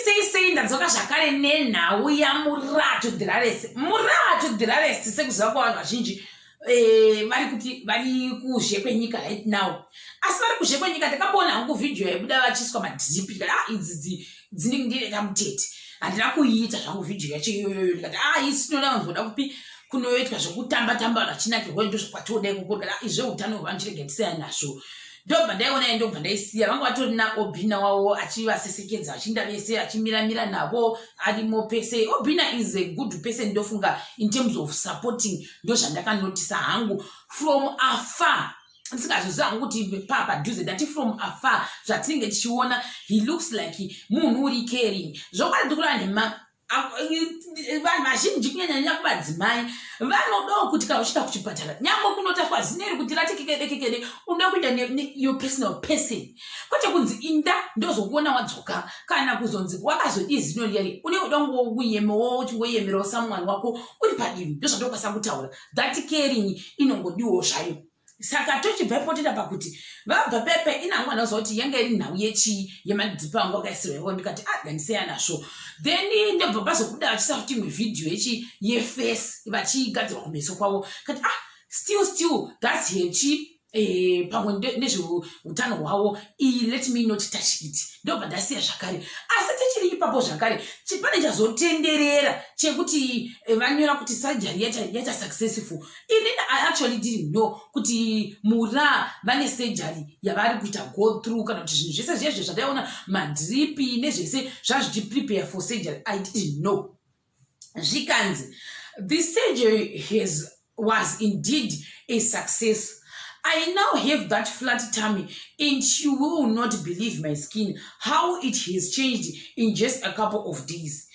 sei sei ndadzoka zvakare nenhau yamuraha to dhiraresi muraha to dhiraresi sekuziva kwavanhu vazhinji eh, vari kuti vari kuzhe kwenyika right now asi vari kuzhe kwenyika ndakaboona hangu vhidhiyo yaibuda vachiiswa madhipi kati a ah, idzidzi dzinenge ndineta mutete handina kuiita zvangu vhidhiyo yacho iyoyoyo ndikati a ah, isi tinoda vanhu voda kupi kunoitwa zvekutamba tamba vachinakirwa ndo zvakwatiodai kukurikata ah, izveutano hwevanhu chirege tiseya nazvo ndobva ndaiona yayi ndobva ndaisiya vanga vatori naobina wavo achivasesekedza achinda vese achimiramira navo arimo pese obina is a good person ndofunga in terms of supporting ndozvandakanotisa hangu from afar ndisingazviziva hangu kuti paa padhuze ndati from afar zvatinenge tichiona he looks like munhu uri caring zvokwadi ndikureva nhema vanhu vazhinji kunyanyanya kumadzimai vanodawo kuti kana uchienda kuchipatara nyangwe kunotaurwa zina iri kuti ratekekedekekede unoda kuenda your personal person kwete kunzi inda ndozokuona wadzoka kana kuzonzi wakazodii zino riyari unenge uda kungouyemawo uchingoyemerawo samwani wako uri padivi ndozvatokwanisa kutaura that caring inongodiwo zvayo saka tochibva ipo tida pakuti vabva pepe inangu vanoziva kuti yanga iri nhau yechii yemadhipi angu akaisirwa ivo ndikati aganiseya ah, nazvo then ndobva pazobuda vachisa futi imwe vhidhiyo yechi yefesi vachigadzirwa kumeso kwavo kati ah still still thats hechi Eh, pamwe nezveutano hwavo iyi let me not touch it ndobva ndasiya zvakare asi tichiri ipapo zvakare chipane chazotenderera chekuti eh, vanyora kuti sajari yaita successful ini i actually didn't know kuti mura vane surgery yavari kuita go through kana kuti zvinhu zvese zviye zve zvataiona madripi nezvese zvazvichiprepare for surgery i didn't know zvikanzi the surgery has was indeed a success I now have that flat tummy and you will not believe my skin, how it has changed in just a couple of days.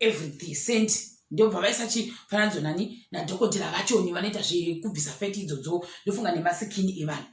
everything sent ndobva vaisachifananidzwa nani nadhokotera vachoni vanoita zvekubvisa feti idzodzo ndofunga nemasikini evanhu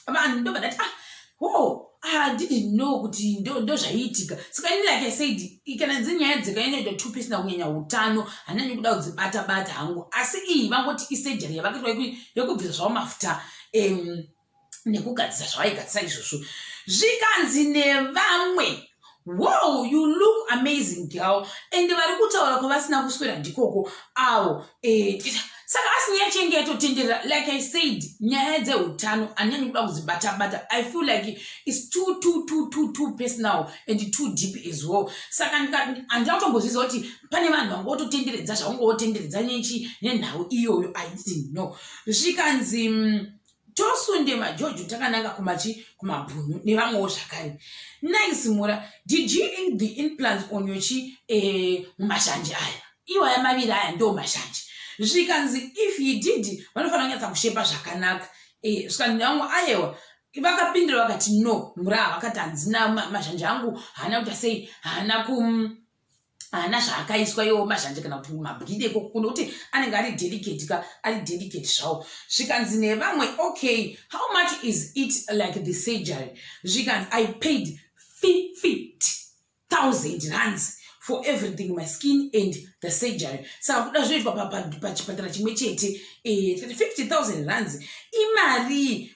vanhu ndobva ndati ah ho ah, didn't know kuti ndozvaiitika saka ini like isaid kana dzi nyaya dzekanyanyota tupi isina kunyanya utano hanani kuda kudzibata bata hangu asi iyi vangoti isurgery yavakitwa yekubvisa zvavo mafuta um, nekugadzisa zvavaigadzisa izvozvo zvikanzi nevamwe wow you look amazing girl and vari kutaura kwavasina kuswera ndikoko avo eh, saka asi nyaya chenge yatotenderera like i said nyaya dzeutano anyanyi kuda kudzibatabata i feel like its too too too too too personal and too deep as well saka handina kutongozviza kuti pane vanhu vanga vototenderedza zvavanga votenderedza nyechi nenhau iyoyo i didn't know zvikanzi mm, tosunde majojo takananga kumachi kumabhunu nevamwewo zvakare nice mura did you in the implants on your chi eh, mumashanje aya iwaya maviri aya ndo mashanje zvikanzi if you did vanofanira kunyatsa kushepa zvakanaka eh, zvikanzi vamwe ayewa vakapindira vakati no mura vakati hanzina mashanje angu haana kuita sei haana kum haana zvaakaiswa iwo mazhanje kana kuti mabwide ikoko kuno kuti anenge ari delicate ka ari delicate zvawo zvikanzi nevamwe okay how much is it like the surgery zvikanzi i paid fift thousand runs for everything my skin and the surgery saka kuda zvinoitwa pachipatara chimwe chete eh, fifty thousand runs imarii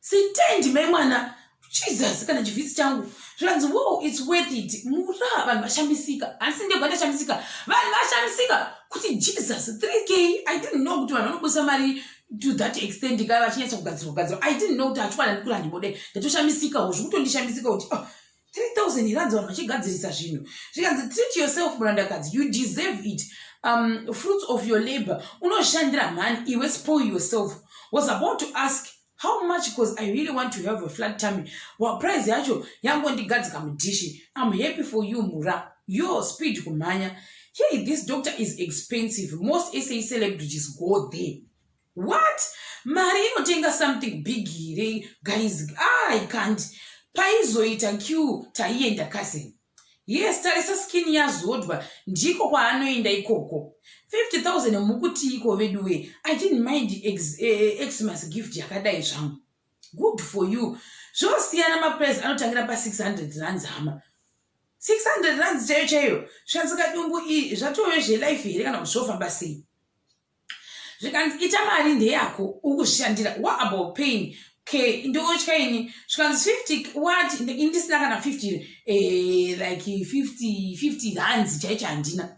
Sitendi mai mwana Jesus kana chivhisi changu zvanzi wo its worth it mura vanhu vashamisika asi ndega ndashamisika vanhu vashamisika kuti Jesus 3k I didn't know kuti vanhu vanobudisa mari to that extent ka vachinyatsa kugadzirwa gadzirwa I didn't know kuti achikwana ndikura ndibode ndatoshamisika wo zvikuto ndishamisika kuti oh, 3000 here hanzi vanhu vachigadzirisa zvinhu zvikanzi treat yourself murandakadzi you deserve it um, fruits of your labor unoshandira mhani iwe spoil yourself was about to ask how much because i really want to have a flat tummy wa price yacho yangondigadzika mudhishi im happy for you mura yo speed kumhanya hey this doctor is expensive most sa celebrities go there what mari inotenga something big here guys ah, i can't paizoita q taienda cousin yes tarisa skin yazodwa ndiko kwaanoenda ikoko 50000 mukuti iko veduwe i didn't mind ex, eh, eh xmas gift yakadai zvangu good for you zvosiyana maprice anotangira pa 600 rands hama 600 rands chaiyo chaiyo shanzika dumbu iyi zvatove zvelife here kana kuti zvofamba sei zvikanzi ita mari ndeyako ukushandira what about pain okay ndotya ini zvikanzi 50 what ini ndisina kana 50 eh, like 50 50 hands chaicho handina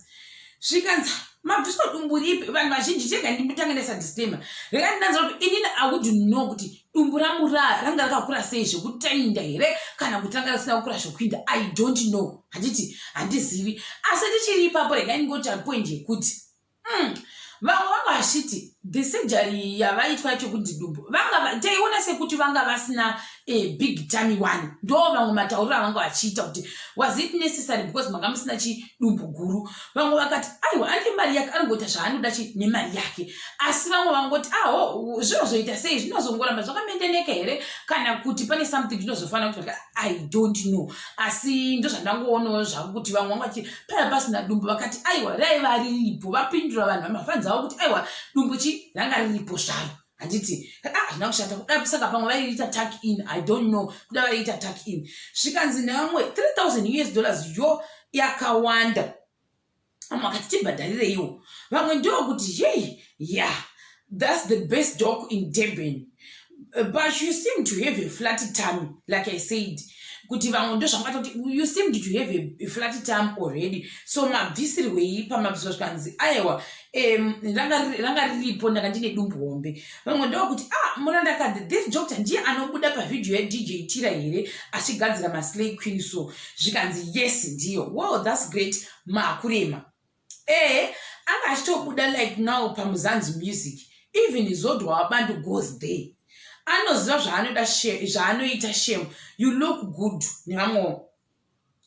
zvikanzi mabviswa dumbu ripi vanhu vazhinji chega nditange ndaisa disclaimer rega ndinanza kuti inini awudu no kuti dumbu rangu ra ranga rakakura sei zvekutainda here kana kuti ranga risina kukura zvekuinda i don't know handiti handizivi asi ndichiri ipapo rega ndingoti apoint yekuti mm. vamwe vanga vachiti the surgery yavaitwa chekuti dumbu vanga taiona sekuti vanga vasina a big tami one ndo vamwe matauriro avanga vachiita kuti was it necessary because manga musina chidumbu guru vamwe vakati aiwa ane mari yake anongoita zvaanoda chi nemari yake asi vamwe vangoti aho zvinozoita sei zvinozongoramba zvakamendeneka here kana kuti pane something zvinozofanira kuti i don't know asi ndozvandangoonawo zvavo kuti vamwe vanga vachiti paya pasina dumbu vakati aiwa raiva riripo vapindura vanhu vamafanzi avo kuti aiwa dumbu chi ranga riripo zvaro handiti ah, hazvina kushata kuda saka pamwe vaiita tak in i don't know kuda vaiita tak in zvikanzi nevamwe 3000 us dollars yo yakawanda vamwe vakati tibhadharireiwo vamwe ndokuti yei ya yeah. That's the best dog in Durban. Uh, But you seem to have a flat tummy, like I said. Kuti vamwe ndozvamakatoti you seemed to have a, a flat tummy already. So mabvisirwei pamabviswa zvikanzi aiwa em, ranga riri- ranga riripo ndanga ndine dumbu hombe. Vamwe ndokuti ah murandakadzi this doctor ndiye anobuda pavideo yaDJ Tira here achigadzira maslay queen so zvikanzi yes ndiyo. Wow that's great makurema. ehe anga achitobuda like now pamuzanzi music even zodwa wabantu goes there anoziva zvaanoita zvaanoita shame you look good nevamwewo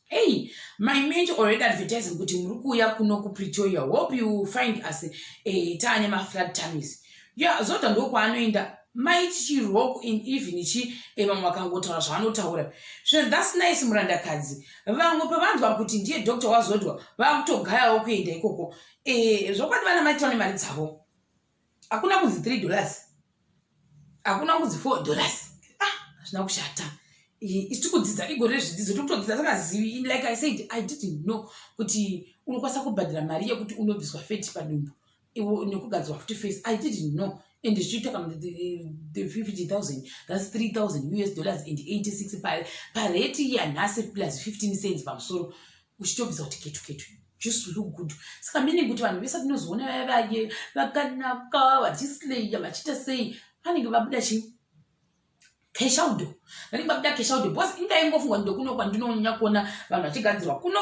hey my mate already advertising kuti muri kuuya kuno kupretoria hope you find us eh, taane maflat tamis ya zvoda ndokwaanoenda mai chichiroko in even chi vamwe vakangotaura zvavanotaura zvinhu thats nice murandakadzi vamwe pavanzwa kuti ndiye doctor wazodwa vakutogayawo kuenda ikoko eh, zvokwadi vana mai taone mari dzavo hakuna kunzi three dollars hakuna kunzi four dollars ah hazvina kushata isi kudzidza igore rezvidzidzo tikutodzidza sakazivi like i said i didn't know kuti unokwanisa kubhadhira mari yekuti unobviswa feti padumbu nekugadzirwa futi face i didn't know and zvichiita kana the fifty thousand thats three thousand us dollars and eighty six pareti yanhasi plus fifteen cents pamusoro uchitobvisa kuti ketu ketu just look good saka meaning kuti vanhu vese tinozoona vaya vaye vakanaka vachislaya vachiita sei vanenge vabuda chii keshaudo ndainga kuda keshaudo bcause inga ingofungwa ndokuno kwandinonyanya kuona vanhu vachigadzirwa kuno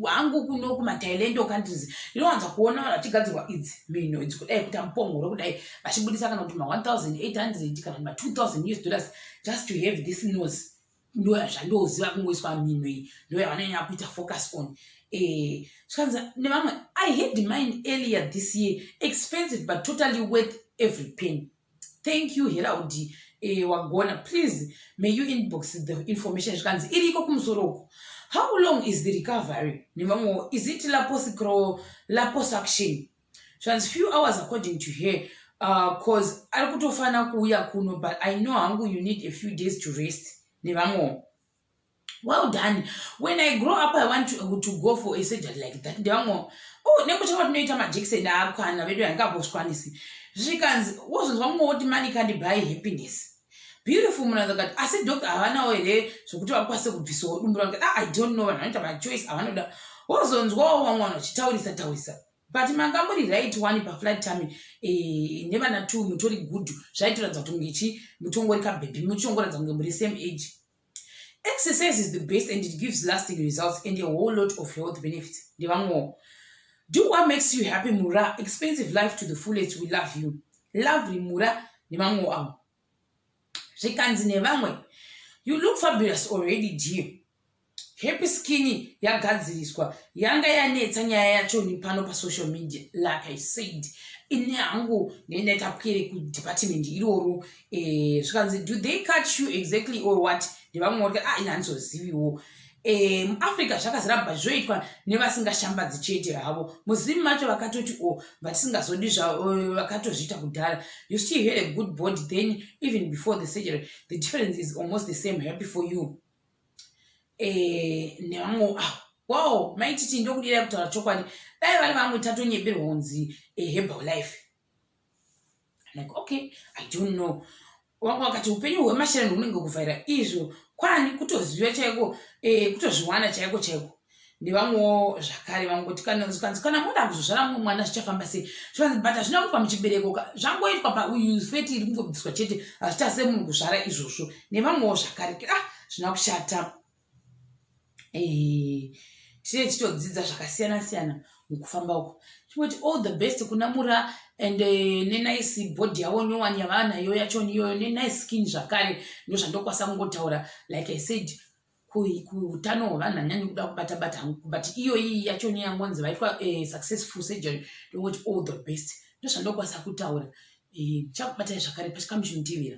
hangu kuno kumatailand countries ndinowanza kuona vanhu vachigadzirwa idzi mhino idzi kudai kuita mupongoro kudai vachibudisa kana kuti ma1800 kana kuti ma2000 us dollars just to have this nose ndoya zvandoziva kungoiswa mhino iyi ndoya vanonyanya kuita focus on eh, zvikanzi nevamwe i had mine earlier this year expensive but totally worth every penny thank you heraudi eh, wagona please may you inbox the information zvikanzi iri iko kumusoro uko how long is the recovery nevamwewo is it laposicro laposaction zvikanzi few hours according to her bcause uh, ari kutofanira kuuya kuno but i know hangu you need a few days to rest nevamwewo well done when i grow up i want to, to go for a surgery like that ndevamwe oh nekutanga tinoita majekiseni aakwana vedu yangambozvikwanisi zvikanzi wozonzwa mumwe woti mani kandi by happiness beautiful munhu akati asi doctor havanawo here zvekuti vakwanise kubvisawo dumbu ravo ah, i don't know vanhu vanoita machoice avanoda wozonzwawo vamwe vanhu vachitaurisa taurisa but manga muri right one paflight time eh, nevana two mutori good zvaitoratidza kuti munge chi mutongori kabhebhi muchongoratidza kunge muri same age exercise is the best and it gives lasting results and a whole lot of health benefits ndevamwewo do what makes you happy mura expensive life to the fullest we love you lovely mura nevamwewo avo zvikanzi nevamwe you look fabulous already dear happy skin yagadziriswa yanga yanetsa nyaya yacho nepano pasocial media like i said ini hangu nendaitapwere kudepartment iroro eh, zvikanzi do they catch you exactly or what ndevamwe vari ah ini handizoziviwo Eh, muafrica zvakazara but zvoitwa nevasingashambadzi chete havo muzim macho vakatoti o oh, vatisingazodi eh, vakatozviita kudhara you still had a good body then even before the surgery the difference is almost the same happy for you eh, nevamwe ah, wow maititi ndokudira kutaura chokwadi dai vari vamwe tatonyeberwa kunzi hebal life like okay i don't know wanga wakati upenyu hwemashera ndounenge kuvhaira izvo kwani kutoziva chaiko e, kutozviwana chaiko chaiko nevamwewo zvakare vamwe kuti kanonzi kanzi kana moda kuzozvara mumwe mwana zvichafamba sei zvikanzi but hazvina kuitwa muchibereko zvangoitwa pauyu feti iri kungobviswa chete hazvichase munhu kuzvara izvozvo nevamwewo zvakare ah zvina kushata eh, tine titodzidza zvakasiyana siyana mukufamba uko chingoti all the best kuna mura and eh, nenice body yavo nyowani yavanayo yachoni iyoyo nenice skin zvakare ndozvandokwasa kungotaura like i said kuutano hwevanhu hanyanyi kuda kubata bata hangu but iyoyi yacho nyaya yangonzi vaitwa eh, successful surgery ndongoti all the best ndozvandokwasa kutaura eh, chakubatai zvakare pachikamuchindivira